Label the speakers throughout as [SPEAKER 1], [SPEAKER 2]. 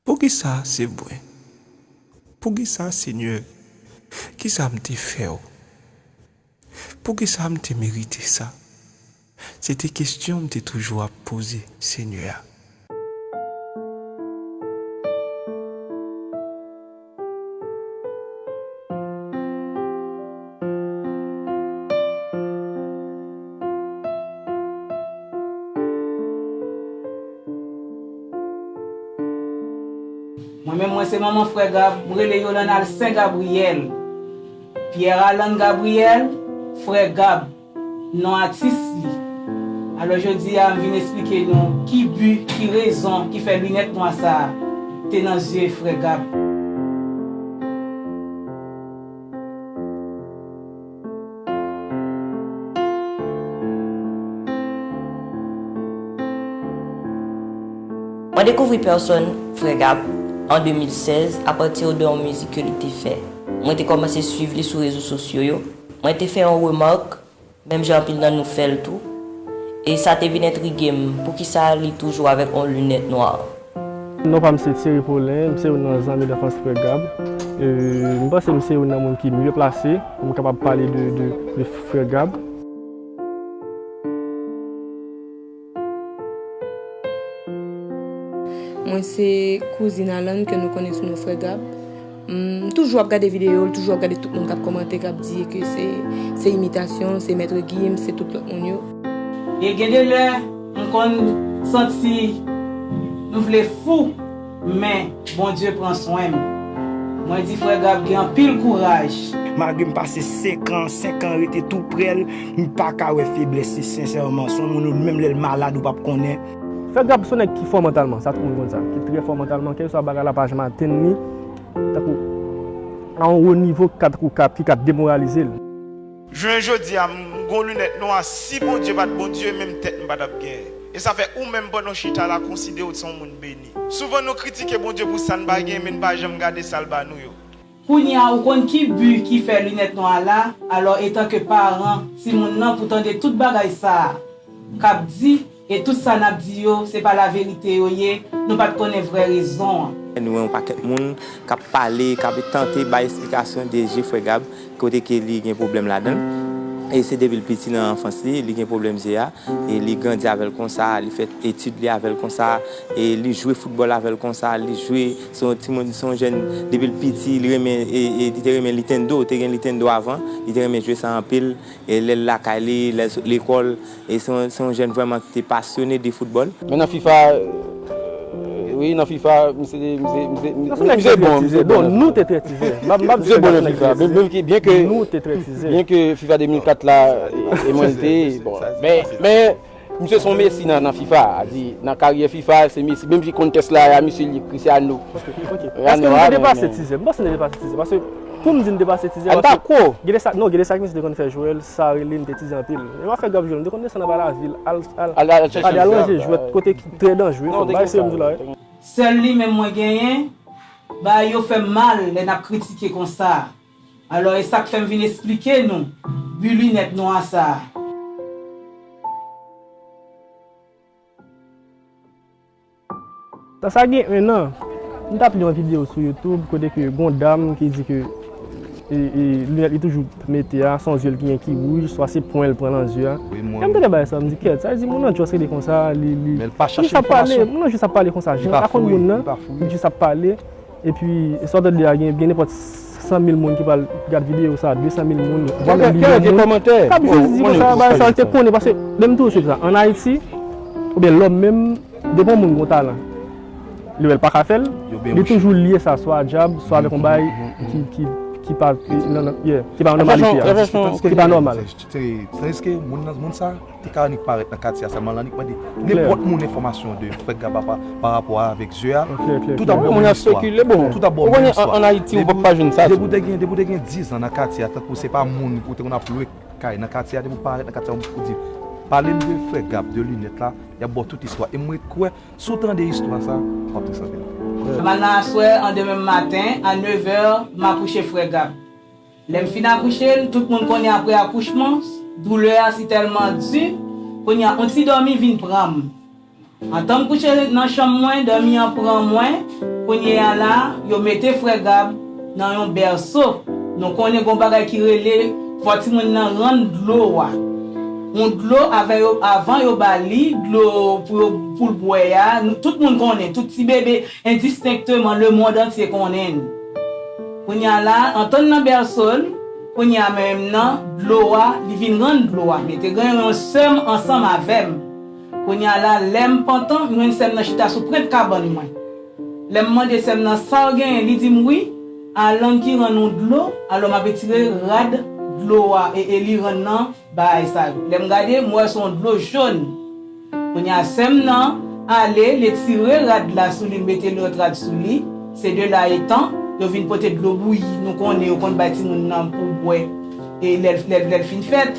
[SPEAKER 1] Poukisa se mwen? Poukisa, Senyè? Kisa m te fè w? Poukisa m te merite sa? Se te kesyon m te toujou ap poze, Senyè.
[SPEAKER 2] Mwen menm mwen se manman frè Gab, m rele Yolande Alcin Gabriel, Pierre Alan Gabriel, frè Gab. non atis li. Alò jodi a m vin esplike nou ki bi, ki rezon ki fè linèt nwa sa a te nan zye frè Gab.
[SPEAKER 3] Mwen dekouvri pèsòn frè Gab an 2016 apati de yon mizik ke li te fè. Mwen te kòmanse swiv li sou rezo sosyo yo. Mwen te fè yon remark, menm jan anpil nan nou fèl tou, e sa te vin entrigem, poukisa li toujou avèk yon lunèt nwa? Non pam
[SPEAKER 4] se Thierry Paulin, mse youn nan zanmi danfans frè Gab. Mpanse mse youn nan moun ki mye plase pou m kapab pale de frè Gab.
[SPEAKER 5] Mwen se kouzin Alan ke nou konnen sou non Frè Gab. M toujou ap gade videyo l, toujou ap gade tout moun k ap kòmante, k ap di ke se imitasyon, se Maitre Gims, se tout lòt moun yo. E gen de
[SPEAKER 2] lè, m konn santi m vle fou. Men, Bondye pran swen m. Mwen di frè Gab gen anpil kouraj. Malgre m pase
[SPEAKER 6] 5 an, 5 an rete tou prè l, m pa ka wè feblès li sensèman. Son moun ou menm lè l malad ou pap konnen. Frè Gab son nèg
[SPEAKER 4] ki fò mantalman, sa tout moun konn sa. Ki trè fò mantalman, kèlkeswa bagay la pa janm atenn li, tankou a yon wo nivo ki ka tankou ki ka demoralize l. Jounen
[SPEAKER 7] jodia m gon lunèt nwa si Bondye pat Bondye menm tèt m patap gen e sa fè ou menm pandan w chita la konsidere w t son moun beni. Souvan nou kritike Bondye pou sa n pa gen men n pa janm gade sa l ba nou yo. Kounya ou konn
[SPEAKER 2] ki bu ki fè lunèt nwa a la, alò etanke paran timoun nan pou tande tout bagay sa kap di, E tout sa nap di yo se pa la verite yo ye nou pat konnen vrè rezon an. Nou wè yon pakèt
[SPEAKER 8] moun kap pale kap tante bay esplikasyon de je frè Gab kote ke li gen pwoblèm ladanl e se depil piti nan anfans li li gen pwoblèm je a e li grandi avèl konsa li fè etid li avèl konsa e li jwe foutbòl avèl konsa li jwe se yon timoun se yon jèn depil piti li renmen li te renmen lintendo te gen lintendo avan li te renmen jwe sa anpil e lèl lakay li lèl sot lekòl. E se yon jèn vrèman ki te pasyone de foutbòl. Men nan fifa,
[SPEAKER 9] wi nan fifa misye te, misye te bon,
[SPEAKER 4] misye te bon. Nou te trè tizè. Nou te bon nan fifa.
[SPEAKER 9] Byen ke, byen ke fifa 2004 la e mwen li te, bon. Men, men, misye se yon Messi nan fifa. A di, nan karyè fifa se Messi. Menm si kontès la a misye li Cristiano. Paske nou te
[SPEAKER 4] depase tizè. Mwen panse nou te depase tizè. Paske Poum di m te pase tizè paske gede sa non
[SPEAKER 9] gede sa ki misye
[SPEAKER 4] te konn fè Joel sa rele m te tizè anpil menm afè grap Joel m te konn desann anba lavil al al chèche al ranje jwèt kote ki trè danjre fòk bay se yo m di w la wi. Sèl li menm
[SPEAKER 2] mwen genyen, bagay yo fèm mal lè nap kritike konsa alò e sak fèm vin esplike nou bu linèt nwa sa.
[SPEAKER 4] Sa sa gen 1 an, m tap li yon video sou youtube kote ke gon dam ki di ke lunèt li toujou mete a son zye l genyen ki wouj swa se pwen l pran nan zye a. Lè m tande bagay sa m di kèt, sa vle di moun nan just rete konsa li jis ap
[SPEAKER 9] pale, moun nan jis ap pale
[SPEAKER 4] konsa jan l pa konn moun nan li jis ap pale. Epi sa w tande ya gen nenpòt 100 mil moun ki pral gad videyo sa, 200 mil moun, vwa menm milyon moun
[SPEAKER 9] kap jezi konsa nan bagay sa yo
[SPEAKER 4] te konnen paske men m toujou swiv sa an Ayiti oubyen lòm menm depi yon moun gon talan li wè l paka fè l li toujou lye sa swa a dyab swa avèk yon bagay ki pa nan ki pa nòmalite a ki pa nòmal.
[SPEAKER 10] Te ka annik parèt nan katye a sèlman lan annik mande nenpòt moun enfòmasyon de frè Gaba pa rapò a avèk ze a, tout ap bon menm istwa,
[SPEAKER 9] tout ap bon menm
[SPEAKER 10] istwa.
[SPEAKER 9] Depi w te gen, depi w te gen dizan
[SPEAKER 10] nan katye a tankou se pa moun ou te konn ap lwe kay nan katye a depi w parèt nan katye a ou di pale m de frè Gab de linèt la y ap ba w tout istwa e m ret kwè si w tande istwa sa w ap tris anpil. Demen nan aswè
[SPEAKER 2] an demen maten a nevè m ap kouche frè Gab. Lè m fin akouche l, tout moun konnen aprè akouchman, doulè a si tèlman di, kounye a on ti dòmi vin pran m. Antan m kouche nan chanm mwen, dòmi an pran mwen, kounye a la, yo mete frè Gab nan yon bèso, nou konnen gon bagay ki rele fò timoun nan rann dlo a. On dlo avè yo avan yo ba li dlo pou yo pou l bwè a, tout moun konnen, tout ti bebe endistenkteman lemond antye konnen. Kounye a la, antann nan bèso l, kounye a mwen menm nan dlo a, li vin rann dlo a. Mete gen yon sè m ansanm avè m. Kounye a la, lè m pantan, m jwenn sè m nan chita sou prent kabann mwen. Lè m mande sè m nan sa w genyen, li di m wi, Alan ki rann ou dlo, alò m ap etire rad dlo a e e li rann nan bagay sa yo. Lè m gade, m wè se yon dlo jòn. Kounye a sèm nan ale, l etire rad la sou li, l mete lòt rad sou li, se de la etan, yo vin pote dlo bouyi, nou konnen yo konn bay timoun nan pou bwè e lè l lè l fin fèt.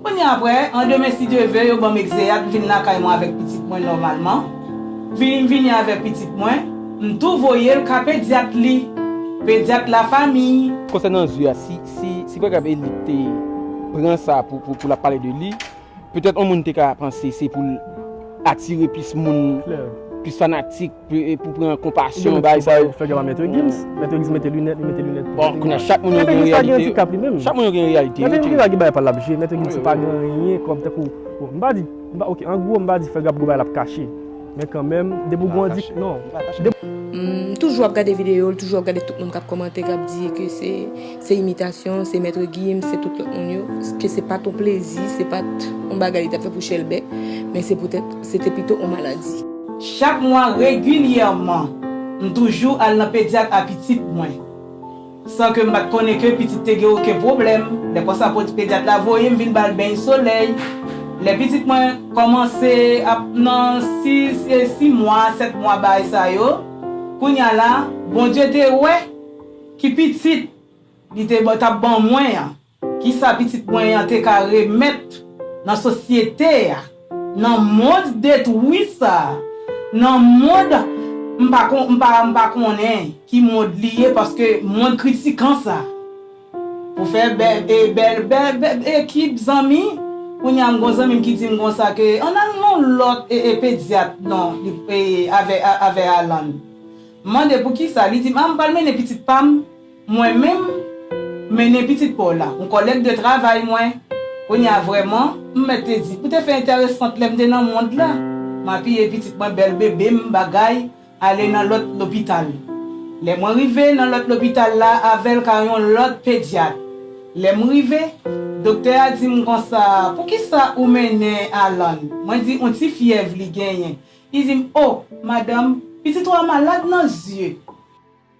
[SPEAKER 2] Kounye a aprè, an demen si Dye ve, yo ban m egzeyat, m vin lakay mwen avèk pitit mwen nòmalman. Vini m vini avè pitit mwen, m tou voye l ka pedyat li, pedyat lafamiy. Konsènan zye a, si
[SPEAKER 9] si si pa grav Elie t te pran sa pou pou l ap pale de li, Petèt yon moun te ka panse se pou l atire plis moun, plis fanatik, pou pran konpasyon, bay sa yo. Fè gen pa
[SPEAKER 4] Maitre Gims. Maitre Gims mete linèt, li mete linèt tou. Bon, kounya chak
[SPEAKER 9] moun yo gen reyalite yo. Chak moun yo gen reyalite yo. Maitre Gims se pa ki bay pa l l ap
[SPEAKER 4] jwe. Maitre Gims se pa gen anyen kòm tankou, m pa di, ok, an gwo m pa di Ferre ap gen bagay l ap kache. Men kanmenm, depi ou gen yon dik, non. M
[SPEAKER 5] toujou ap gade videyo l, toujou ap gade tout moun k ap kòmante, k ap di ke se imitasyon, se Maitre Gims, se tout lòt moun yo, ke se pa t yon plezi, se pa t yon bagay li t ap fè pou chèlbè, men se poutèt se te pito yon maladi. Chak mwa
[SPEAKER 2] regilyèman, m toujou al nan pedyat a pitit mwen. San ke m pa t konnen ke pitit te gen oken pwoblèm, lè konsa pedyat la voye m vin ba l beny solèy. Lè pitit mwen kòmanse ap nan 6 e 6 mwa, 7 mwa baay sa yo, kounye a la, Bondye te wè ki pitit li te, t ap ban mwen an. Kisa pitit mwen an te ka remèt nan sosyete a, nan mond detwi sa a, nan mond m pa kon, m pa, m pa konnen ki mond li ye paske mond kritikan sa a. Pou fè bè, e bèl, bè, bè ekip zanmi, kounye a m gon zanmi m ki di m konsa ke ann al nan yon lòt e, e pedyat non, li, e avè, avè Alan. M mande poukisa, li di m a m pral mennen pitit pa m Mwen menm, m mennen pitit pa w la. Yon kòlèg de travay mwen. Kounye a vrèman, m mèt te di, ou te fè entèresant lè m te nan mond la. M apiye pitit mwen bèl bebe m bagay ale nan lòt lopital. Lè mwen rive nan lòt lopital la avè l ka yon lòt pedyat. Lè m rive, doktè a di m konsa, poukisa ou mennen Alan? Mwen di, yon ti fyèv li genyen. Li di m, o, madanm, pitit ou a malad nan zye.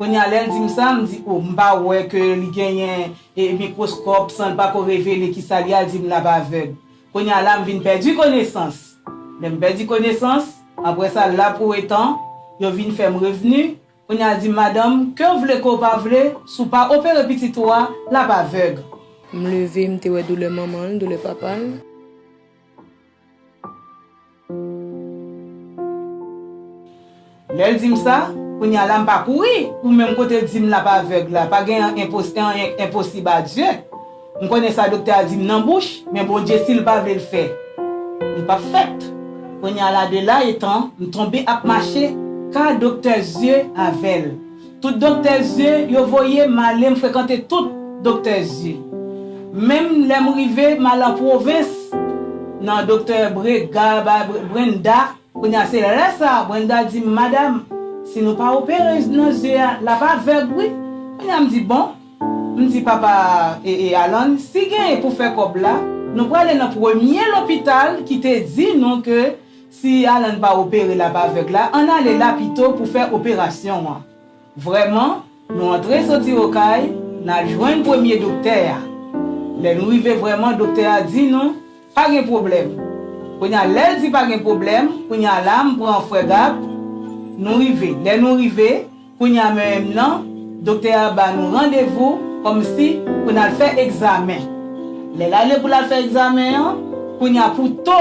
[SPEAKER 2] Konya lèl dim sa m di oh m pa wè ke li genyen mikroskòp sanl pa ko revele kisa li a l dim lap avèg konya la m vin pèdi konesans lèm pèdi konesans aprè sa la pou etan yo vin fèm revni konya l dim madanm kew vle kew pa vle si w pa opere pitit ou a lap avèg. M leve
[SPEAKER 5] m te wè doulè manmanl doulè papal.
[SPEAKER 2] Lèl dim sa, kounya la m pa kouri, ou menm kote l dim lap avèg la, pa gen an enpo anyen k enposib a Dye. M konnen sa doktè a dim nan bouch, men Bondye sil pa vle l fè, li pap fèt. Kounya la de la etan, m tonbe ap mache, ka doktè zye avèl. Tout doktè zye yo voye m ale m frekante tout doktè zye. Menm lè m rive m al an pwovens nan doktè Brega bay Brenda kounye a se lè sa Brenda di m madam si nou pa opere nan zye a l ap avèg wi kounye a m di bon m di papa Alan si gen pou fè kòb la nou prale nan premye lopital ki te di nou ke Si Alan pa opere lap avèg la ann ale la pito pou fè operasyon an vrèman nou antre soti okay nal jwenn premye doktè a lè nou rive vrèman doktè a di nou pa gen pwoblèm kounya lèl di pa gen pwoblèm kounya la m pran frè Gab nou rive lè nou rive Kounye a menm nan, doktè a ba nou randevou kòmsi pou n al fè egzamen. Lè l ale pou l al fè egzamen an, kounye a pou to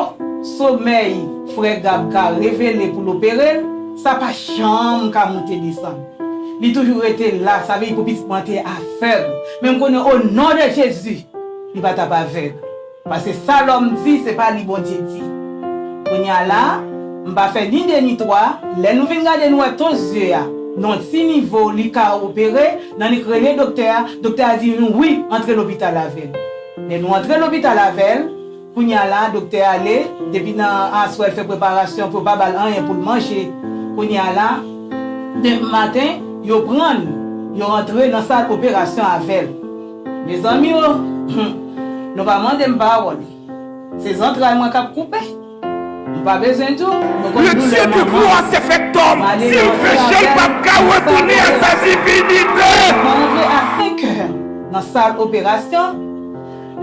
[SPEAKER 2] somèy frè Gab ka revele pou l opere l, sa pa janm ka monte desann. Li toujou rete la, sa vle di pou pitit mwen an te avèg. Men m konnen o non de Jezi, li pa t ap avèg. Paske sa lòm di, se pa li Bondye di. Kounye a la, m pa fè ni de ni twa, lè nou vin gade nou wè tons zye a, nan yon ti nivo li ka opere, nannik rele doktè a, doktè a di nou wi, antre lopital avè l. Lè nou antre lopital avè l, kounye a la, doktè ale, depi nan aswè l fè preparasyon pou yo pa ba l anyen pou l manje. Kounye a la, demen maten, yo pran l, yo antre nan sal operasyon avè l. Mezanmi oo humm nou pa mandem pawòl se zantray mwen kap koupe m pa bezwen tou nou konn doulè
[SPEAKER 11] manman male nan fè apèl nan sal operasyon yo antre a 5
[SPEAKER 2] è nan sal operasyon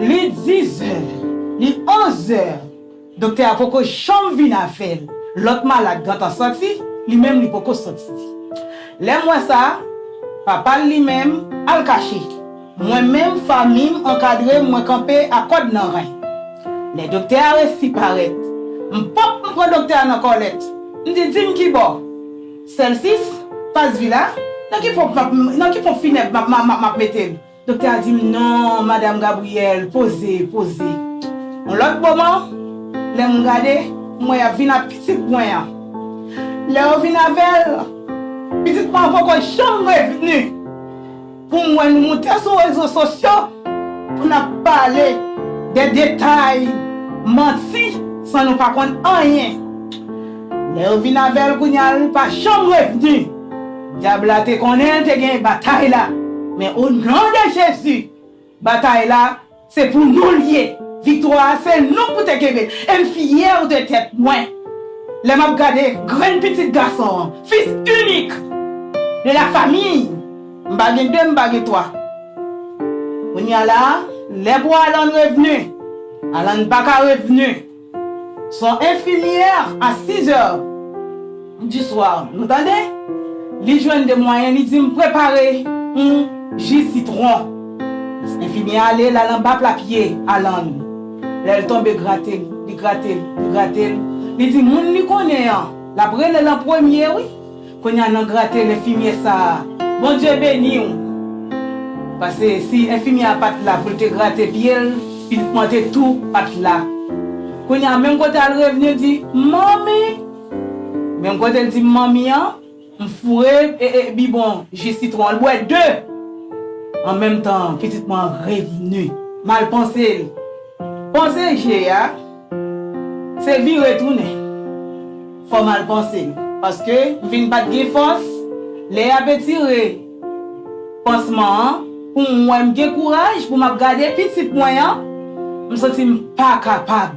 [SPEAKER 2] li 10 è li 11 è. Doktè a poko janm vin avèl. Lòt malad gentan sòti, li menm li poko sòti. Lè m wè sa, papa l li menm al kache. Mwen menm fanmi m ankadre m mwen kanpe a kòd nan ren. Lè doktè a resi parèt, m pop m pran doktè a nan kòlèt, m di di m kibò? Sèlsis, Pas Vila, nan ki ponp nan ki ponp finèb m ap mete l? Doktè a di m non madam Gabrielle poze, poze. Yon lòt moman, lè m gade, m wè y ap vin ak pitit mwen an. Lè yo vin avè l, pitit mwen an poko janm revni pou m wè nou moute sou rezo sosyo pou n ap pale de detay, manti san nou pa konn anyen. Lè yo vin avè l kounye a l pa janm revni. Dyab la te konnen te gen batay la men o non de Jezi batay la se pou nou l ye viktwa a se nou pou te kenbe l e m fyè de tèt mwen lè m ap gade grenn pitit gason an fils unique de la famille m pa gen 2 m pa gen 3 kounya la lè pou Alan revenu Alan pa ka revenu. Son infirmière à 6 heures du soir nou tande li jwenn 2 mwayen li dim prepare yon ji sitron infirmière ale lal anba pla pye Alan lèl tonbe gratel li gratel li gratel li di moun li konnen an lap relel an premye wi Konya nan gratel enfimyè sa a Bondye beniw pase si enfimyè a pat la poul te grate pyel pitit mwen te tou pat la konya menm kote al revni di manmi menm kotel dim manmi an m foure bibon ji sitwon an l bwè 2 an menm tan pitit mwen an revni mal pansel panse je a. Se vire tounen. Fò mal panse m. Paske m vin pat gen fòs. Lè yap etire pansman an pou m wè m gen kouraj pou m ap gade pitit mwen an, m santi m pa kapab.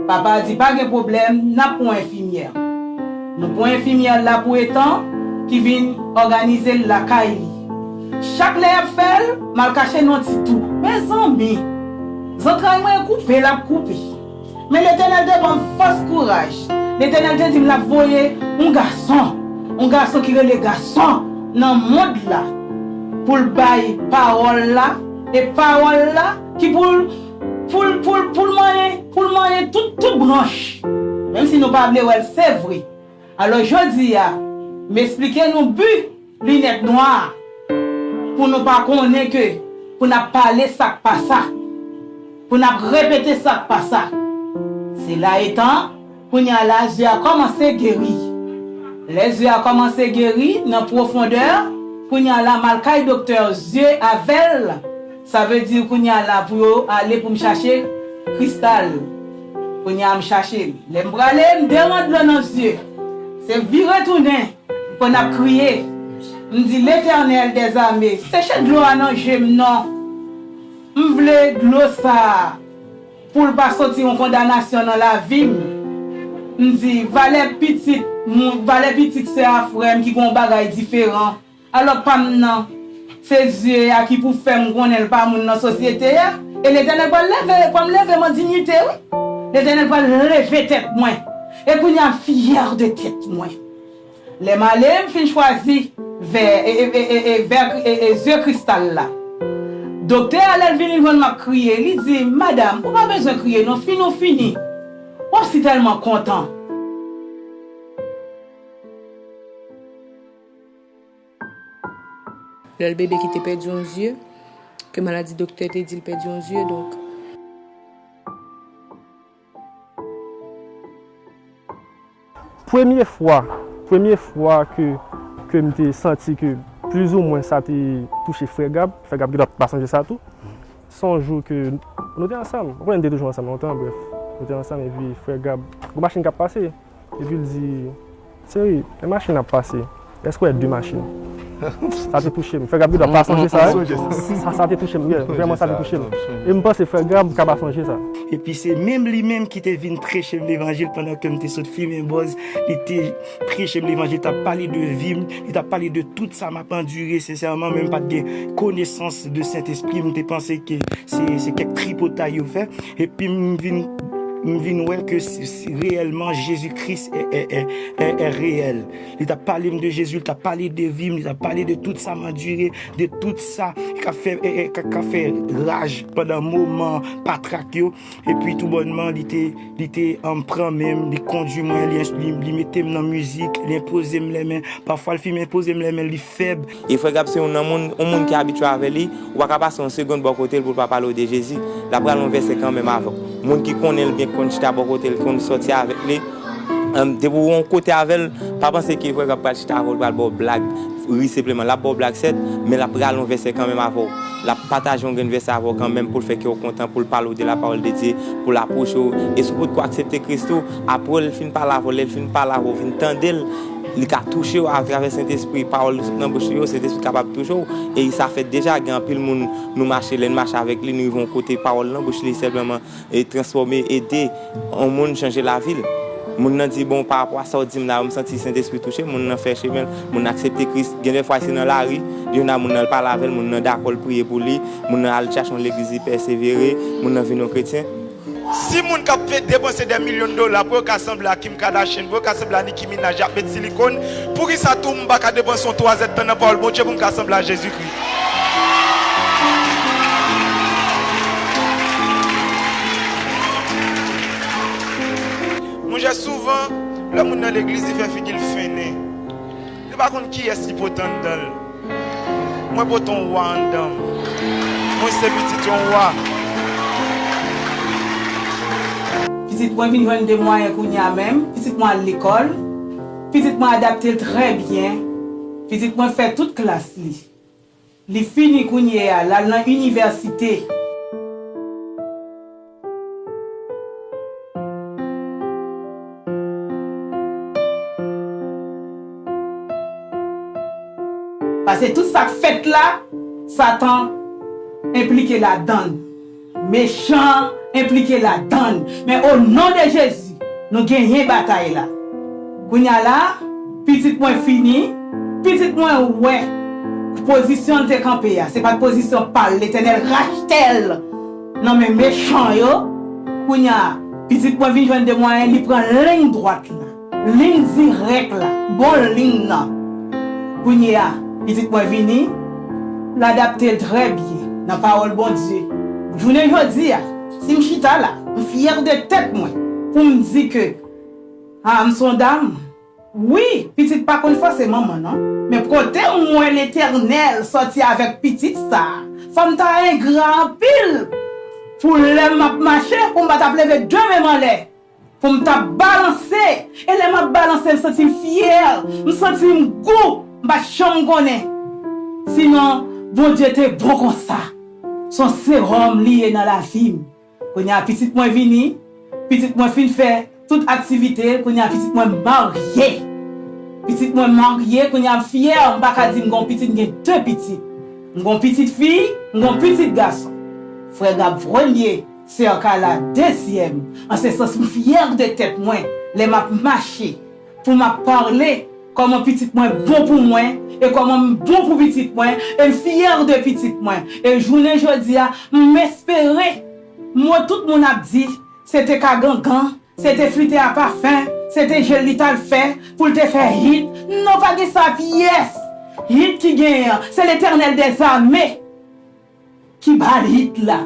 [SPEAKER 2] Papa di pa gen pwoblèm nap pran enfimyè. Nou pran enfimyè la pou Ethan ki vin òganize l lakay li. Chak lè yap fè l, m al kache nan ti tou. Mezanmi! Zantray mwen koupe, lap koupe. Men Letènèl te banm fòs kouraj. Letènèl te dim lap voye yon gason, yon gason ki rele gason nan mond la poul bay pawòl la e pawòl la ki poul poul poul poul manyen poul manyen tout tout branch menm si nou pa vle wèl se vre. Alò jodia m esplike nou but. Linèt nwa a pou nou pa konnen ke pou n ap pale sa k pa sa, pou n ap repete sa k pa sa. Sela etan, kounye a la zye a kòmanse geri. Lè zye a kòmanse geri nan pwofondè, kounye a la m al kay doktè zye avè l, sa vle di kounye a la pou yo ale pou m chache kristal. Kounye a m chache l. Lè m prale, m deran dlo nan zye. Se vire tounen. Mwen ap kriye, m di, Letènèl dèzame, seche dlo a nan je m non! M vle dlo sa a pou l pa soti yon kondanasyon nan lavi m. M di, Valè pitit moun, valè pitit sè a frè m ki gen yon bagay diferan, alò pa m nan, se zye a ki pou fè m konnen l pa moun nan sosyete a. E Letènèl pral leve, pran m leve m an dinyite wi. Letènèl pral leve tèt mwen, e kounye a m fyè de tèt mwen. Lè m ale, m fin chwazi vè e vè e ze kristal la. Doktè a lè l vini jwenn m ap kriye, li di m, Madam, ou pa bezwen kriye non, fini ou fini. W ap si tèlman kontan.
[SPEAKER 5] Lè l bebe ki te pèdi yon zye, ke maladi doktè te di l pèdi yon zye, donk.
[SPEAKER 4] Premye fwa, premye fwa ke, ke m te santi ke plizoumwen sa te touche Frè Gab, Frè Gab gendwa pa sonje sa tou, se yon jou ke nou te ansanm, ou konnen nou te toujou ansanm lontan, brèf, nou te ansanm epi Frè Gab, gen yon machin k ap pase. Epi l di, Cheri, lè machin ap pase, èske w wè de machin? Sa te touche m. Frè Gab gen dwa pa sonje sa. Sa te touche m. Vrèman, sa te touche m. E m panse frè Gab ka pa sonje sa. Epi se menm
[SPEAKER 6] li menm ki te vin preche m levanjil pandan ke m te sot fimen bòz. Li te preche m levanjil, li t ap pale de vi m, li t ap pale de tout sa m ap andire. Sensèman, mwen m pa t gen konesans de Sentespri. M te panse ke se kèk tripotay yo fè. Epi m vin wè ke. Si reyèlman Jezi Kris è reyèl, li ta pale m de Jezi, li ta pale de vi m, li ta pale de tout sa m andire, de tout sa ka fè raj pandan moman patrak yo. Epi tou bònman li te pran men m, li kondui mwen, li mete m nan mizik, li enpoze m lèmen. Pafwa li fin enpoze m lèmen. fèb. E frè Gab se youn nan
[SPEAKER 8] moun, yon moun ki abitye avè li, ou pa ka pase yon segond bò kote l pou l pa pale w de Jezi. L ap rale yon vèsè kanmenm avè w. Moun ki konnen l byen, ki konn chita bò kote l, ki konn sòti avèk li, depi ou yon kote avè l, pa panse ke frè Gab pral chita avè w, l pral ba w blag, ri senpleman. L ap ba w blag sèt, men l ap rale yon vèsè kanmenm avè w. L ap pataje yon grenn vèsè avè w kanmenm pou l fè kè w kontan, pou l pale w de lapawòl de Dye, pou l apwoche w. E si w potko aksepte Kris tou, apre l fin pale avè w, lè l fin pale avè w, ou vin tande l, Li ka touche w atravè Sentespri. Pawòl nou sot nan bouch li yo, Sentespri kapab touche w. E sa fèt deja. Gen anpil moun nou mache, lè n mache avèk li, nou rive yon kote, pawòl nan bouch li senpleman transfòme, ede yon moun chanje lavi l. Moun nan di, Bon, parapò a sa w di m la, m santi Sentespri touche m. Moun nan fè chemen l. Moun nan aksepte Kris. Gen dèfwa se nan lari, li vin la, moun nan al pale avè l, moun nan dakò l priye pou li, moun nan al chache yon legliz li pèsevere, moun nan vin yon kretyen. Si moun
[SPEAKER 7] kap fè depanse dè milyon dola pou yo ka sanble a Kim Kardashian, pou yo ka sanble a Nicki Minaj yap met silikon, poukisa tou m paka depanse yon twazèd tan nan pawòl Bondye pou m ka sanble a Jezikri? Monchè souvan lè moun nan legliz li fè figi l fennen. Yo pa konn kiyès ki pote anndan l. Mwen pote yon wa anndan m. Mwen se pitit yon wa.
[SPEAKER 2] Pitit mwen vin jwenn de mwayen kounye a menm. Pitit mwen al lekòl. Pitit mwen adapte l trè byen. Pitit mwen fè tout klas li. Li fini kounye a, l'al nan inivèsite. Pase tout sa k fèt la, Satan enplike ladan l. Mechan enplike ladann men o non de jezi nou genyen batay la kounya la pitit mwen fini pitit mwen wè pozisyon l te kanpe a se pat pozisyon pal letènèl rachtel nan men mechan yo kounya pitit mwen vin jwenn de mwayen li pran liny dwat la. Ligne direct la bon ligne nan. Kounye a pitit mwen vini l adapte l trè byen nan pawòl Bondye. Jounen jodi a si m chita la m fyè de tèt mwen pou m di ke a m s on dam. Wi pitit pa konn fòse manman nan men kote m wè Letènèl sòti avèk pitit sa fò m ta engra anpil pou lè m ap mache pou m pa t ap leve de men m anlè. Pou m ta balanse e lè m ap balanse m santi m fyè, m santi m gou, m pa t janm konnen si non Bondye te bon konsa. S on seròm li ye nan lavi m. Kounye a pitit mwen vini, pitit mwen fin fè tout aktivite l, kounye a pitit mwen marye. Pitit mwen marye, kounye a m fyè, m pa ka di m gen yon pitit, m gen de pitit. M gen yon pitit fi, m gen yon pitit gason. Frè Gab vremye. Cerca la dezyèm an se sans m fyè de tèt mwen lè m ap mache pou m ap parle kòman pitit mwen bon pou mwen e kòman m bon pou pitit mwen e m fyè de pitit mwen e jounen jodi a m espere mo tout moun ap di se te ka gangan se te flite a pafen se te je l li t al fè pou l te fè hit non pa gen sa pyès hit ki genyen an se letènèl dèzame. Ki bal hit la.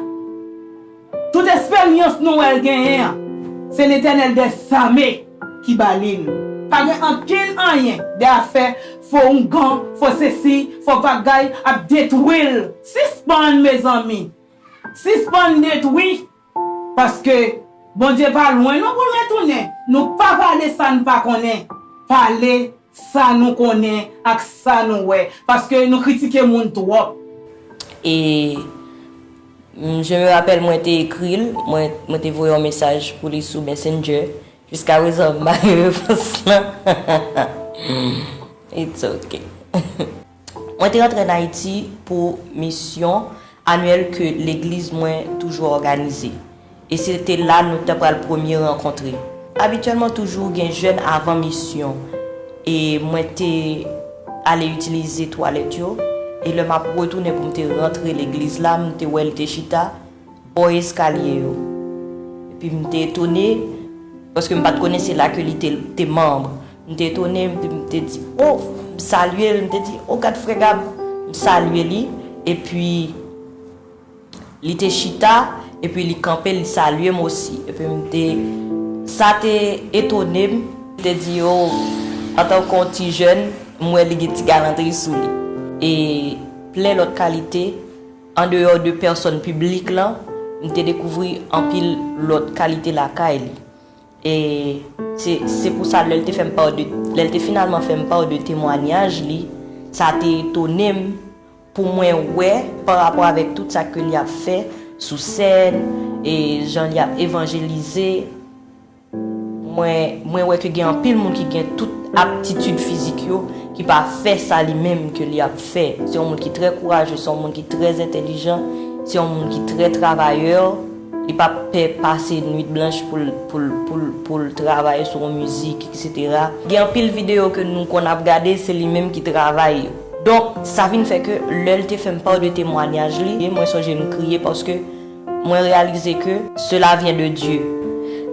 [SPEAKER 2] Tout esperyans Noel genyen an, se Letènèl dè Zame ki ba li l. Pa gen ankenn anyen de afè fo oungan, fo sesi, fo bagay ap detwi l. Sispann mezanmi. Sispann detwi. Paske Bondye pa lwen non pou l retounen. Nou pa pale sa n pa konnen. Pale sa nou konnen ak sa nou wè. Paske nou kritike moun twòp. E
[SPEAKER 3] je me rappelle mwen te ekri l, mwen te voye yon mesaj pou li sou Messenger. Jiskaprezan m pa gen repons lan. It's ok. Mwen te antre an Ayiti pou misyon anyèl ke legliz mwen toujou òganize, e se te la nou te pral premye rankontre. Abityèlman toujou gen jèn avan misyon, e mwen te ale itilize twalèt yo, e lè m ap retounen pou m te rantre legliz la, m te wè l te chita, bò eskalye yo. Epi m te etone, paske m pa t konnen se la ke li te manb. M te etone, m te di, O, m salye l, m te di, O gad frè Gab, m salye li. Epi, li te chita, epi li kanpe, li salye m osi. Epi m te, sa te etone m. M te di, O, antan ke yon ti jèn, m wè li gen ti galantri sou li. E plen lòt kalite, Andeyò de pèsòn piblik la, m te dekouvri anpil lòt kalite lakay li. E, se, se pou sa lè l te fè m pa de, lè l te finalman fè m pa de temwanyaj li, sa te etone m pou mwen wè pa rapò avèk tout sa ke li ap fè sou sèn, e jan li ap evanjelize, Mwen wè ke gen anpil moun ki gen tout aptitid fizik yo ki pa fè sa li menm ke li ap fè. Se yon moun ki trè kouraje, se yon moun ki trè entelijan, se yon moun ki trè travayè, li pa pè pase nwit blanch pou l travay sou yon mizik eksetera. Gen anpil videyo ke nou konn ap gade se li menm ki travay yo. Donk sa vin fè ke lè l te fè m paw de temwanyaj li, mwen sonje m kriye paske. mwen reyalize ke sela vyen de Dye.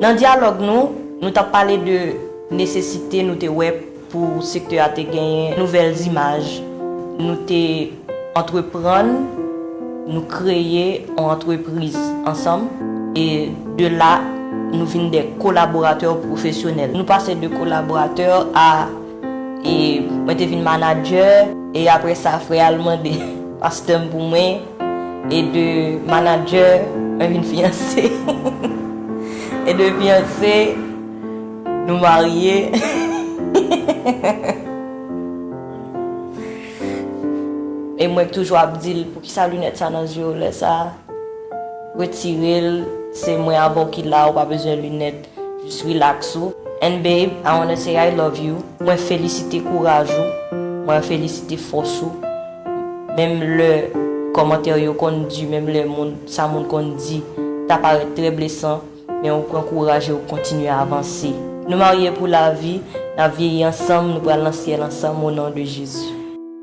[SPEAKER 3] Nan dyalòg nou, nou t ap pale de nesesite nou te wè pou sektè a te genyen nouvèl zimaj. Nou te antreprann, nou kreye yon antrepriz ansanm e de la nou vin de kolaboratè pwofesyonèl. Nou pase de kolaboratè a e mwen te vin manadjè. E apre sa frè a l mande pastè m pou mwen. E de manadjè mwen vin fiyanse E de fiyanse nou marye E mwen k toujou ap di l poukisa linèt sa nan zye w lè sa Retirel se mwen avè w ki la ou pa bezwen linèt Jis relax ou and babe I wanna say I love you mwen felisite kouraj ou mwen felisite fòs ou menm lè kòmantè yo konn di menm lè moun sa moun konn di ta parèt trè blesan men ou pran kouraj e ou kontinye avanse nou marye pou lavi nap vyeyi ansanm nou pral nan syèl ansanm o non de Jezi.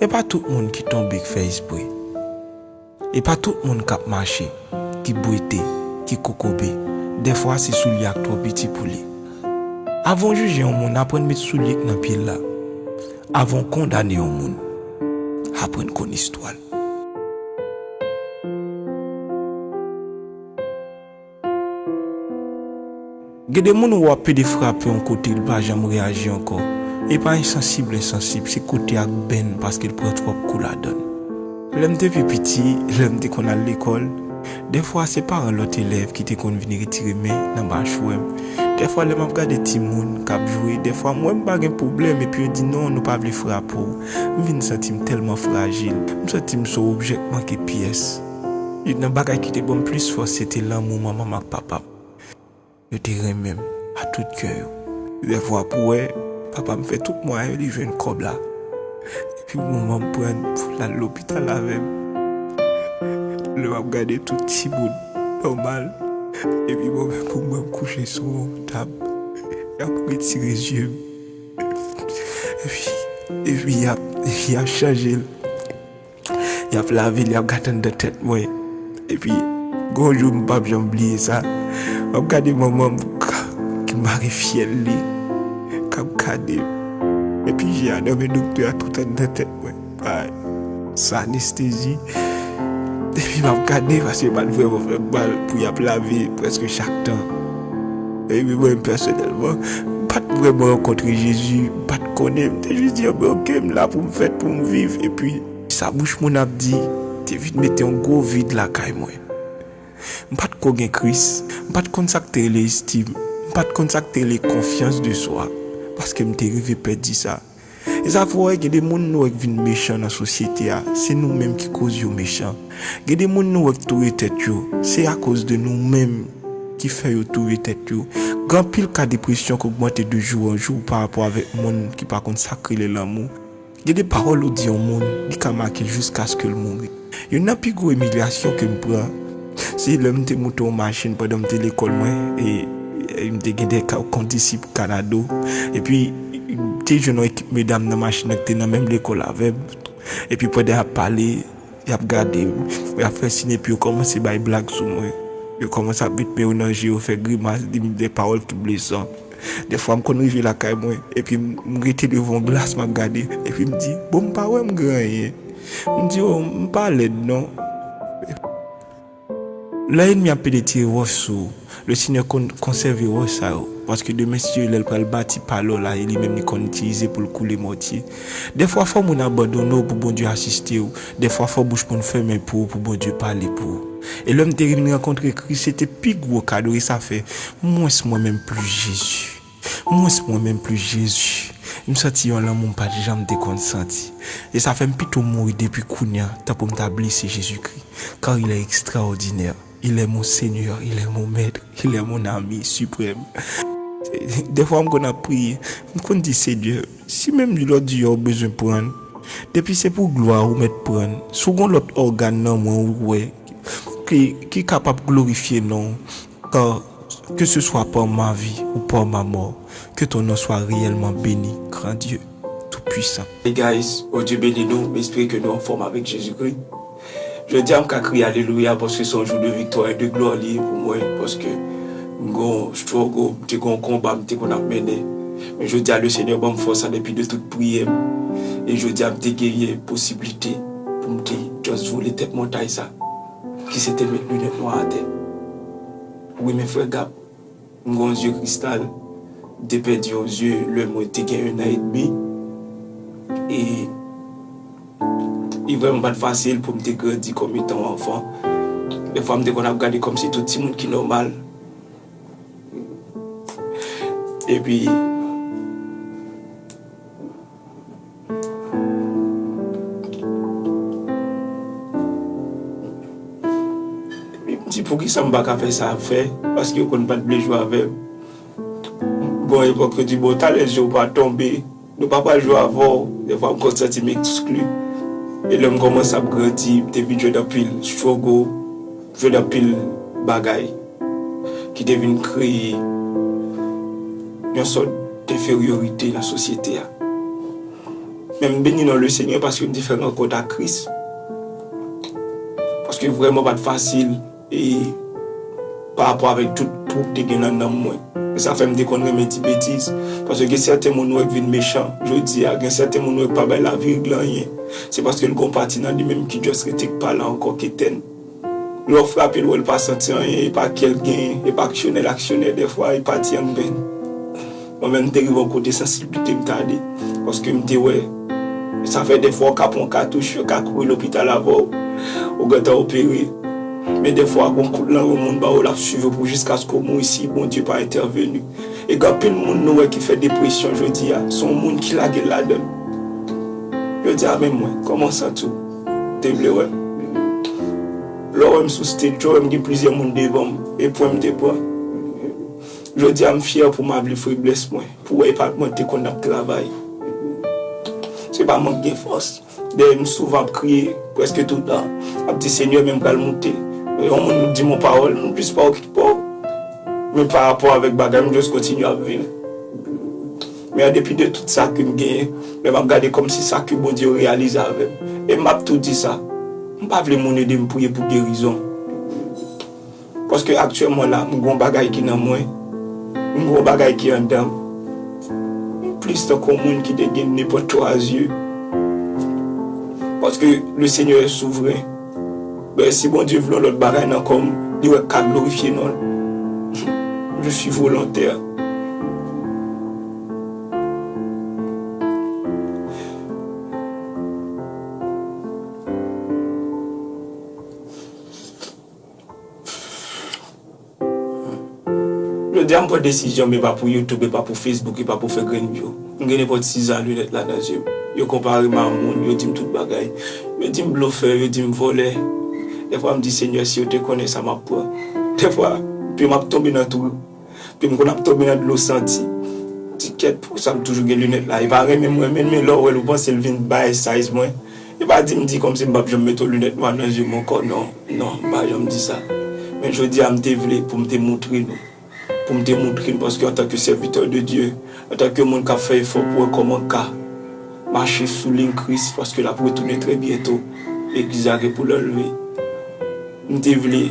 [SPEAKER 1] E pa tout moun ki tonbe k fè espre E pa tout moun k ap mache ki bwete, ki kokobe Dèfwa se soulye a k twò piti pou li Avan w jije yon moun aprann met soulye k nan pye l la Avan w kondane yon moun aprann konn istwa l. Gen de moun ou wap pede frape yon kote li pa janm reaji ankò, e pa ensansib l ensansib se kote ak benn paske l pran twòp kou ladann. Lè m te pi piti, lè m te konn al lekòl, dèfwa se paran lòt elèv ki te konn vin retire men nan machwè m, dèfwa lè m ap gade timoun kap jwe dèfwa m wè m pa gen pwoblèm epi yo di non nou pa vle frape w, m vin santi m tèlman frajil, m santi m s on objè k manke pyès. Youn nan bagay ki te ban m plis fòs se te lanmou manman m ak papa m. Yo te renmen m a tout kè yo. Lè vwa pou wè, papa m fè tout mwayen li jwenn kòb la epi manman m pran l pou l al lopital avè m. Lè m ap gade tout timoun nòmal epi mwen menm pou mwen m kouche sou yon tab, y ap retire zye m epi y ap chanje l. Yap lavi l yap gate anndan tèt mwen epi gen yon jou m pap janm bliye sa map gade manman m ki mare fyèl li kap gade m epi je a nan men doktè a tout anndan tèt mwen bay san anestezi epi map gade paske yo pat vrèman fè m mal pou yap lavi l prèske chak tan. Epi mwen pèsonèlman, m pa t vrèman rankontre Jezi, m pa t konnen, m te jis di yo, men oke, m la pou m fèt, pou m viv. Epi, sa bouch moun ap di te vin mete yon gwo vid lakay mwen. M pa t ko gen Kris, m pa t konn sa k te rele estim, m pa t konn sa k te rele konfyans de swa, paske m te rive pèdi sa. Esa fò wi gen de moun nou wè k vin mechan nan sosyete a se nou menm ki koz yo mechan gen de moun nou wè k touye tèt yo se akoz de nou menm ki fè yo touye tèt yo gen anpil ka depresyon k ogmante de jou an jou pa rapò avèk moun ki pa konn sak rele lanmou gen de pawòl ou di yon moun li ka make l jiskaske l mouri. Youn nan pi gwo imilyasyon ke m pran, se lè m te moute yon machin pandan m te lekòl mwen, e m te gen de kondisip kanado, epi m te jwenn yon ekip medam nan machin nan ki te nan menm lekòl avè m, epi pandan y ap pale, y ap gade m, y ap fè sin epi yo kòmanse bay blag sou mwen, yo kòmanse ap met men yo nan je yo fè grimas, di m de pawòl ki blesan. Dèfwa m konn rive lakay mwen epi m rete devan yon glas m ap gade epi m di bon m pa wè m gen anyen m di oh m pa lèd non lè enmi ap pede tire wòch sou ou le senyè konn konsève wòch sa yo paske demen si lè l pral bati palo la e li menm li konn itilize pou l koule mòtye Dèfwa fò moun abandone w pou Bondye asiste w, dèfwa fò bouch moun fèmen pou ou pou Bondye pale pou ou. E lèm te vin rankontre Kris se te pi gwo kado e sa fè mwens mwen menm plis Jezi, mwens mwen menm plis Jezi, m santi yon lanmou m pat janm te konn santi. E sa fè m pito mouri depi kounya tankou m ta blese Jezikri, kar il est extraordinaire. Il est mon seigneur, il est mon maître, il est mon ami suprême Dèfwa m konn ap priye, m konn di Senyè, si menm lòt je a ou bezwen pran l, depi se pou glwa ou mèt pran l, si w gon lòt ògàn nan mwen ou wè ki ki kapab glorifye non w par que ce soit par ma vie ou par ma mort que ton nom soit réellement béni grand Dieu tout puissant. Hey guys, Bondye
[SPEAKER 12] beni nou, m espere ke nou anfòm avèk Jezikri. Jodi a m ka kriye alelouya paske se yon jou de viktwa e de glwa li ye pou mwen paske m gen yon struggle, m te gen yon konba m te konn ap mennen men jodi a le Senyè ban m fòs an depi de tout priyè m e jodi a m te genyen posiblite pou m te just vole tèt montay sa ki se te met linèt nwa atè. Wi men frè Gab. M gon zye kristal m te pèdi yon zye lè mwen te gen 1 an et demi e li vrèman pat fasil poum te grandi kòm etan yon anfan. Dèfwa m te konn ap gade kòm se tout timoun ki nòmal epi. Di poukisa m pa ka fè sa ap fè, paske yo konn pa t vle jwe avè m. Gon epòk yo di, bon talè je w pa tonbe, nou pa pral jwe avè w. Defwa m konn santi m ekskli. E lè m kòmanse ap grandi, m te vin jwenn anpil struggle, jwenn anpil bagay. ki te vin kreye yon sòt denferyorite nan sosyete a. Men m beni non Lesenyè paske m te fè rankont ak Kris. Paske vrèman pa t fasil e parapò avèk tout twou k te gen nan nanm mwen. E sa fè m te konn renmen di betiz. Paske gen sèten moun ou wè k vin mechan jodi a, gen sèten moun ou wè k pa bay lavi reg lan anyen, se paske l gen yon pati nan li menm ki just rete k pa la ankò k etèn. Lè w frape l wè l pa santi anyen, e pa kè l genyen, e pa aksyonè l aksyonè dèfwa, e pati an vin. Mwen menm m te rive yon kote sansiblite m tande, paske m te wè sa fè dèfwa w ka pran yon katouch, yo ka kouri lopital avè w, ou gentan opere, men dèfwa gen yon kout lang yon moun ba w l ap swiv ou pou jiskaske w mouri si Bondye pa entèveni. E gen anpil moun nou wè ki fè depresyon jodi a, se yon moun ki lage l ladan l. Yo di a men mwen, kòman w santi w? Te vle wè m. Lè w wè m sou stage yo wè m gen plizyè moun devan m e pwen m te pran. Jodi a m fyè pou m avli feblès mwen pou wè e pa ak mwen te konn ap travay. Se pa mank gen fòs. Dèyè m souvan ap kriye prèske toutan. Ap di Senyè men m pral moute. Lè yon moun di m yon pawòl m jis pa okipe w. Men parapò avèk bagay m jis kontinye ap viv. Men an depi de tout sa kem genyen, lèm ap gade kòm si sa ke Bondye yo reyalize avèm. E map tou di sa, m pa vle moun edem priye pou gerizon. Paske aktyèman la m gen yon bagay ki nan mwen, m gen yon bagay ki andanm. M plis tankou yon moun ki te gen nenpòt 3 zye. Paske le Seigneur est souverain. Ben si Bondye vle yon lòt bagay nan kòm li wè ka glorifye non l je suis volontaire. Jodi a m pran desizyon m e pa pou youtube e pa pou facebook e pa pou fè grenn view m gen nenpòt 6 zan lunèt la nan zye m yo konpare m a moun yo di m tout bagay yo di m blofè yo di m vòlè dèfwa m di senyè si yo te konnen sa m ap pran dèfwa pye m ap tonbe nan twou pye m konn ap tonbe nan dlo santi ti kèt pou sa m toujou gen lunèt la e pa renmen m renmen l men lè w wè l ou panse l vin bay size mwen. Yo pa di m di kòmsi m p ap janm mete yon linèt nwa nan zye m ankò non, non, m pa janm di sa. Men jodi a m te vle pou m te moutre nou, pou m te moutre n paske antanke sèvitè de Dye, antanke moun k ap fè efò pou wè kòman ka mache sou liy Kris paske l ap retounen trè byento, legliz la gen pou l anlve. M te vle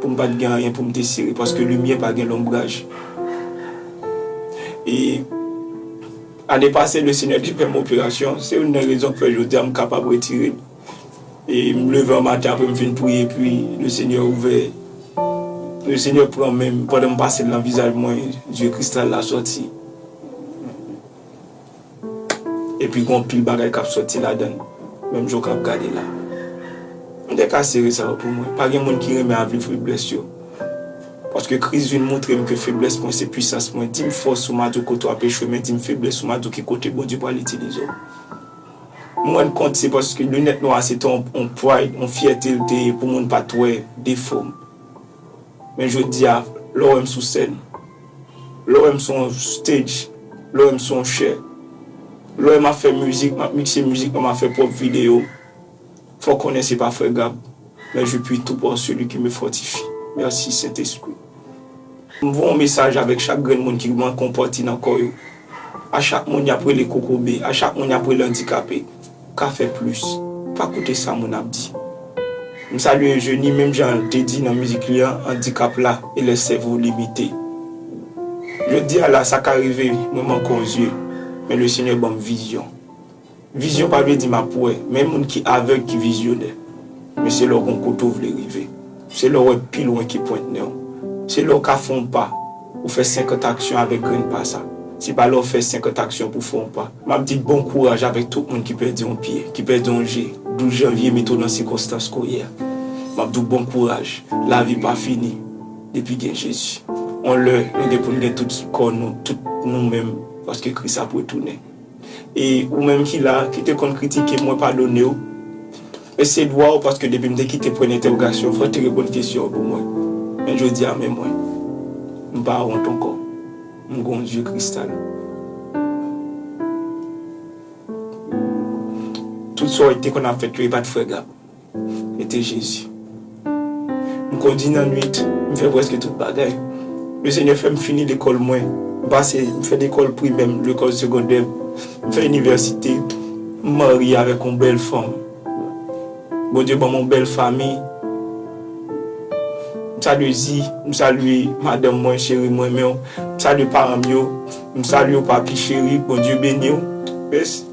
[SPEAKER 12] pou m pa t gen anyen pou m te sere paske limyè pa gen lonbraj. E. Ane pase le Senyè te fèm operasyon, se youn nan rezon ki fè jodi a m kapab retire m e m leve an maten apre m fin priye epi le Senyè ouvè le Senyè pran men m pandan m pase l nan vizaj mwen zye kristal la sòti epi gon pil bagay kap sòti ladan l menm jan w kap gade la m te ka sere sa yo pou mwen pa gen moun ki renmen avi feblès yo. Paske Kris vin moutre m ke feblès mwen se pwisans mwen. Di m fòs ou Madjo kote w ap echwe men di m feblès ou Madjo ki kote Bondye pral itilize w. M rann kont se paske linèt nwa a se te yon pride, yon fyète l te ye pou moun pa t wè defo m. Men jodi a, lè w wè m sou sèn, lè w wè m sou yon stage, lè w wè m sou yon chè, lè w wè m ap fè mizik, m ap mikse mizik mwen, m ap fè pwòp videyo m, Fò konnen se pa frè Gab men je puis tout en celui qui me fortifie merci saint esprit m voye yon mesaj avèk chak grenn moun ki manke yon pati nan kò yo a chak moun yap rele kokobe a chak moun yap rele andikape ka fè plis pa koute sa moun ap di m salye Eugenie menm jan l te di nan mizik li an andikap la e lè sèvo w limite jodi a la sa ka rive mwen manke yon zye men le seigneur banm vizyon Vizyon pa vle di map wè, men moun ki avèg ki vizyonè. Men se lè w gon kote w vle rive. Se lè w wè pi lwen ke pwent nen w. Se lè w ka fè yon pa, ou fè 50 aksyon avèk grenn pa sa. Se pa lè w fè 50 aksyon pou w fè yon pa. Map di bon kouraj avèk tout moun ki pèdi yon pye, ki pèdi yon je, 12 janvye mete w nan sikonstans ke w ye a. Map di w bon kouraj, lavi pa fini depi gen Jezi. Yon lè nou gen pou n gen tout kò nou, tout nou menm, paske Kris ap retounen. E ou menm ki la, ki te konn kritike m, mwen padone w. Men se dwa w paske depi m te kite pwen entèwogasyon, fò w te reponn kesyon pou mwen. Men jodi a men mwen. M pa wont ankò. M gon zye kristal. Tout sa w te konn ap fèt yo, e pa t frega. Mete Jezi. M kondi nan nwit, m fè prèske tout bagay. Le Senyè fè m fini lekòl mwen. M pase, m fè lekòl primè m, lekòl segondè m. M fè inivèsite. M marye avèk yon bèl fanm. Bondye ban m yon bèl fanmi. M salye Zi, m salye madanm mwen, cheri m renmen w. M salye paran m yo. M salye w papi cheri, Bondye beni w. Mèsi.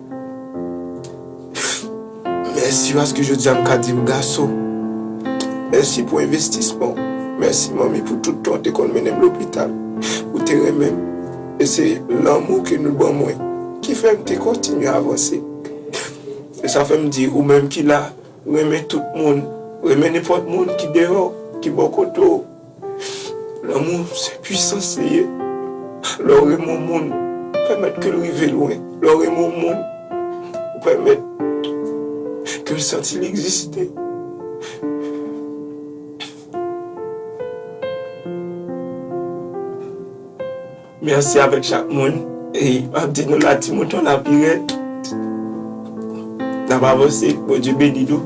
[SPEAKER 13] Mèsi paske jodi a m ka di m gason. Mèsi pou envestisman w. Mèsi manmi pou tout tan w te konn mennen m lopital. Ou te renmen m. E se lanmou ke nou ban mwen ki fè m te kontinye avanse. E sa fè m di ou menm ki la, renmen tout moun. Renmen nenpòt moun ki deyò, ki bò kote w. Lanmou se pwisans li ye. Lè w renmen yon moun, ou pèmèt ke l rive lwen. Lè w renmen yon moun, ou pèmèt ke l santi l egziste. Merci avek chak moun e map di nou la ti mouton la pi red nap avanse bondye beni nou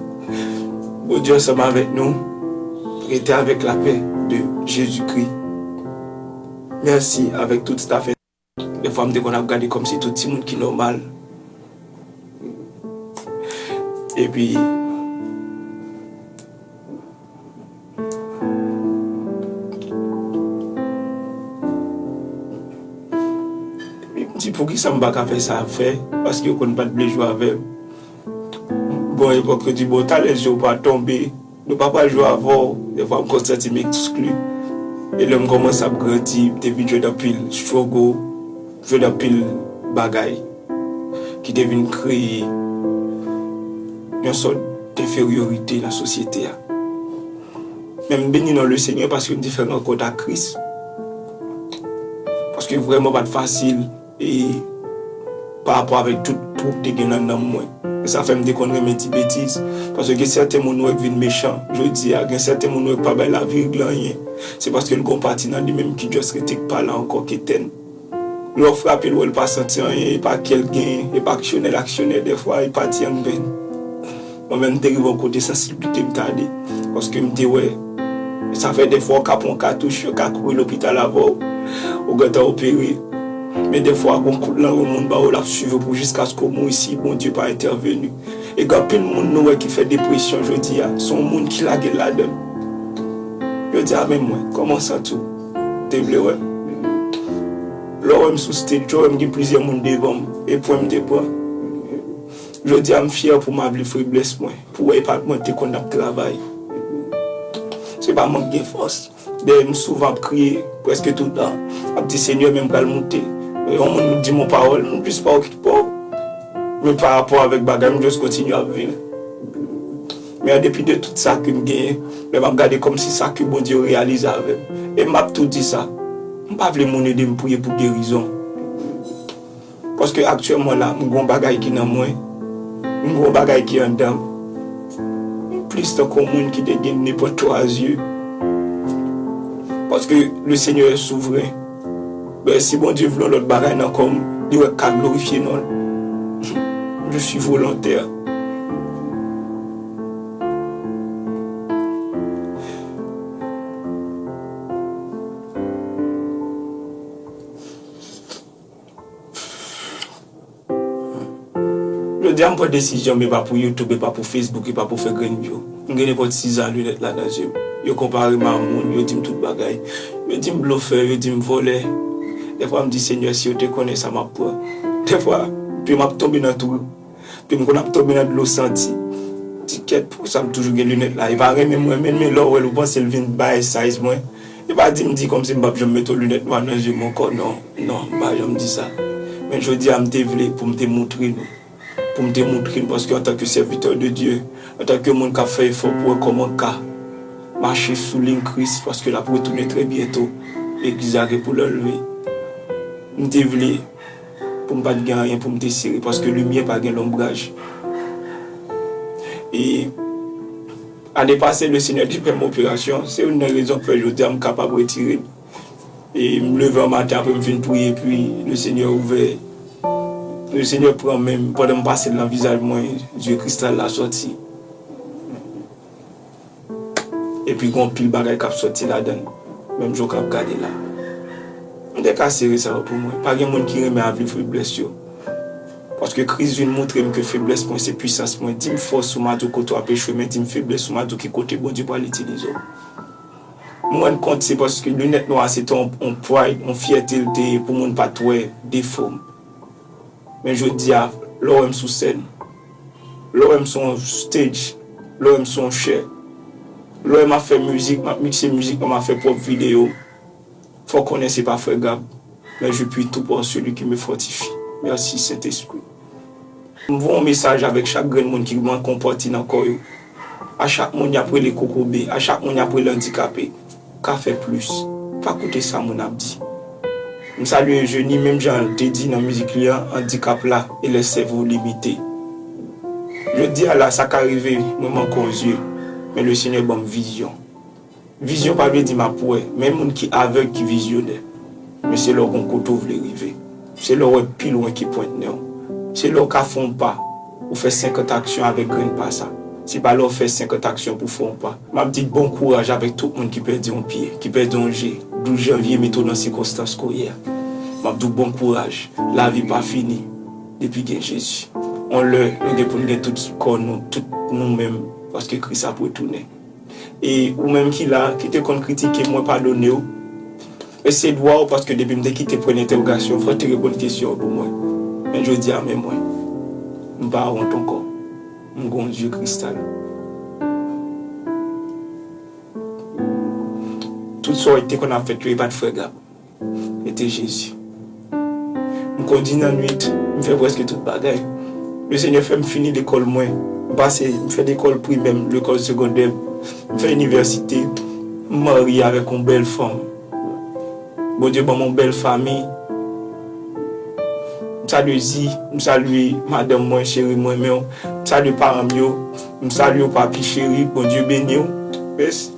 [SPEAKER 13] bondye ansanm avek nou rete avek la pè de jezi kri merci avek tout staff en. Defwa m te konn ap gade kòm se tout timoun ki nòmal epi. Di poukisa m pa ka fè sa y ap fè, paske yo konn pa t vle jwe avè m. Bon epòk yo di bon talè je w pa tonbe, nou pa pral jwe avè w. Defwa m konn santi m ekskli. E lè m kòmanse ap grandi, m te vin jwenn anpil stwogo. Jwenn anpil bagay ki te vin kreye yon sòt denferyorite nan sosyete a. Men m beni non Lesenyè paske m te fè rankont ak Kris. Paske vrèman pa t fasil e parapò avèk tout twou k te gen nan nanm mwen. E sa fè m te konn renmen di betiz. Paske gen sèten moun nou wè k vin mechan jodi a, gen sèten moun nou wè k pa bay lavi rgle anyen, se paske l gen yon pati nan li menm ki just rete k pa la ankò k etèn. Lè w frape l wè l pa santi anyen, e pa kè l genyen, e pa aksyonè l aksyonè dèfwa, e pati an bèn. Mwen menm m te rive yon kote sansiblite m t ale, paske m te wè sa fè dèfwa w ka pran yon katouch, yo ka kouri lopital avè w, ou gentan opere, men dèfwa gon kout lanren moun ba w l ap swiv w pou jiskaske w mouri si Bondye pa entèveni. E gen anpil moun nou wè ki fè depresyon jodi a, se yon moun ki lage l ladan l. Yo di a men mwen, kòman w santi w? Te vle wè m? Lè w wè m sou stage, yo wè m gen plizyè moun devan m, e pwen m te pran. Jodi a m fyè pou m avli feblès mwen, pou wè e pa mwen k te konn ap travay. Se pa mwen k gen fòs. Dèyè m souvan ap kriye, prèske toutan, ap di Senyè men m pral moute. Lè yon moun di m yon pawòl, m plis pa w ki pa w. Men parapò avèk bagay m just kontinye ap viv. Men an depi de tout sa kem genyen, lè map gade kòmsi sa ke Bondye yo reyalize avèm. E map tou di sa, m pa vle moun edem priye pou gerizon. Paske aktyèman la, m gen yon bagay ki nan mwen, m gen yon bagay ki andanm. M plis tankou yon moun ki te gen nenpòt 3 zye. Paske le Senyè è souvren. Si Bondye vle yon lòt bagay nan kò m, li wè k ka glorifye non l, je suis volontaire. Jodi a m pran desizyon m e pa pou youtube e pa pou facebook e pa pou fè grenn vyou m gen nenpòt siza linèt la nan zye m yo konpare m a moun yo di m tout bagay yo di m blofè yo di m vòlè dèfwa m di senyè si yo te konnen sa m ap pran dèfwa pye m ap tonbe nan twou. Ke m konn ap tonbe nan dlo santi. Ti kèt pousa m toujou gen linèt la. E pa renmen m renmen l men lè w wè l ou panse l vin bay size mwen. E pa di m di kòmsi m p ap janm mete yon linèt nwa nan je m ankò non, non m pa janm di sa. Men jodi a m te vle pou m te moutre nou, pou m te moutre n paske antanke sèvitè de Dye, antanke moun k ap fè efò pou wè kòman ka mache sou liy Kris paske l ap retounen trè byento, legliz la gen pou l anleve. M te vle. pou m pa t gen anyen pou m te sere paske limyè pa gen lonbraj. E ane pase Lesenyè te fè m operasyon, se youn nan rezon k fè jodi a m kapab retire m. E m leve an maten apre m fin priye epi Lesenyè ouvè, Lesenyè pran men m pandan m pase l nan vizaj mwen, zye kristal la sòti. Epi gen yon pil bagay kap soti ladann menm jan w kap gade la. M te ka sere sa yo pou mwen. Pa gen moun ki renmen ap viv feblès yo. Paske Kris vin moutre m ke feblès mwen se pwisans mwen. Di m fòs ou ma di w kote w ap echwe men di m feblès ou ma di w ki kote Bondye pral itilize w. M rann kont se paske linèt nwa a se te yon pride, yon fyète l te ye pou moun pat wè defo m. Men jodi a lè w wè m sou sèn. Lè w wè m sou yon stage, lè w wè m sou yon chè, lè w wè m ap fè mizik, m ap mikse mizik mwen, m ap fè pwòp videyo m, fò w konnen se pa frè Gab, men je puis tout par celui qui me fortifie. Merci Sentespri. M voye yon mesaj avèk chak grenn moun ki manke yon pati nan kò yo, a
[SPEAKER 12] chak moun y ap rele kokobe, a chak moun y ap rele andikape, ka fè plis, pa koute sa moun ap di. M salye Eugenie menm jan l te di nan mizik li an andikap la e lè sèvo limite. Jodi a la sa ka rive mwen manke w zye men le Senyè ban m vizyon. Vizyon pa vle di m ap wè men moun ki avèg ki vizyonè men se lè w gon kote w vle rive. Se lè w wè pi lwen ke pwent nen w. Se lè w ka fè yon pa, ou fè senkant aksyon avèk grenn pa sa. Se pa lè w fè senkant aksyon pou w fè yon pa. M ap di bon kouraj avèk tout moun ki pèdi yon pye, ki pèdi yon je, 12 janvye mete w nan sikonstans ke w ye a. M ap di w bon kouraj, lavi pa fini depi gen Jezi. Yon lè nou gen pou n gen tout kò nou, tout nou menm, paske Kris ap retounen. E ou menm ki la, ki te konn kritike, mwen padone w. E se dwa w paske depi m te kite pwen entewogasyon, fò w te reponn kesyon an pou mwen. Men jodi a men mwen. M pa wont ankò. M gon zye kristal. Tout sa w te konn ap fèt yo e pat frè Gab. Mete Jezi. M kondi nan nwit, m fè prèske tout bagay. Le Senyè fè m fini lekòl mwen. M pase, m fè lekòl primè m, lekòl segondè m, m fè inivèsite, m marye avèk yon bèl fanm. Bondye ban m yon bèl fanmi. M salye Zi, m salye madanm mwen, cheri m renmen w. M salye paran m yo, m salye w papi cheri, Bondye beni w. Mèsi.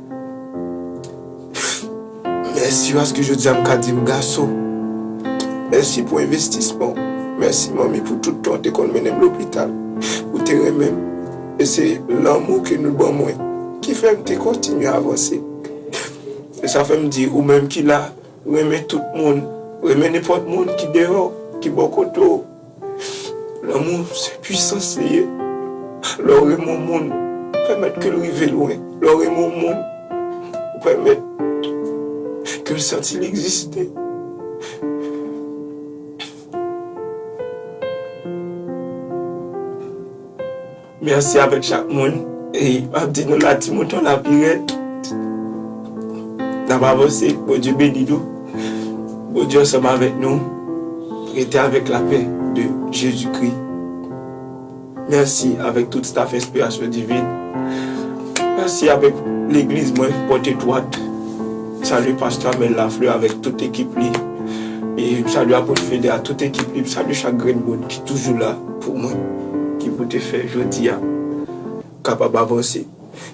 [SPEAKER 13] Mèsi paske jodi a m ka di m gason. Mèsi pou envestisman w. Mèsi manmi pou tout tan w te konn mennen m lopital. Ou te renmen m. E se lanmou ke nou ban mwen ki fè m te kontinye avanse. E sa fè m di ou menm ki la, renmen tout moun. Renmen nenpòt moun ki deyò, ki bò kote w. Lanmou se pwisans li ye. Lè w renmen yon moun, ou pèmèt ke l rive lwen. Lè w renmen yon moun, ou pèmèt ke l santi l egziste. Merci avek chak moun e map di nou la ti mouton la pi red nap avanse bondye beni nou bondye ansanm avek nou rete avek la pè de jezi kri merci avek tout staff enspirasyon divin merci avek legliz mwen pote dwat salu pastè amel lafleur avek tout ekip li e m salu apot fede a tout ekip li m salu chak grenn moun ki toujou la. Pou mwen ki pou te fè jodi a kapab avanse.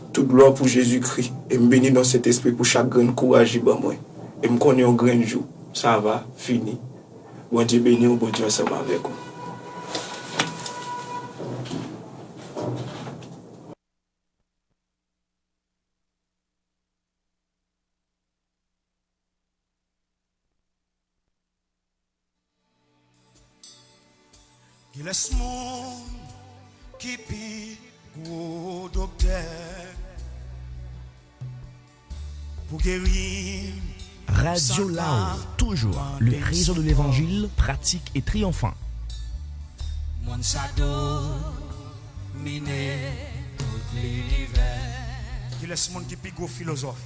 [SPEAKER 13] Tout glwa pou Jezi Kri e m beni non Sentespri pou chak grenn kouraj li ban mwen e m konnen yon grenn jou sa va fini. Bondye beni w Bondye ansanm avèk ou.
[SPEAKER 14] Kilès moun ki pi gwo doktè pou gerim Radio
[SPEAKER 15] Lao, toujours le rezo de levanjil pratik e triyonfan.
[SPEAKER 14] Moun sa domine tout linivè. Kilès moun ki pi gwo filozòf.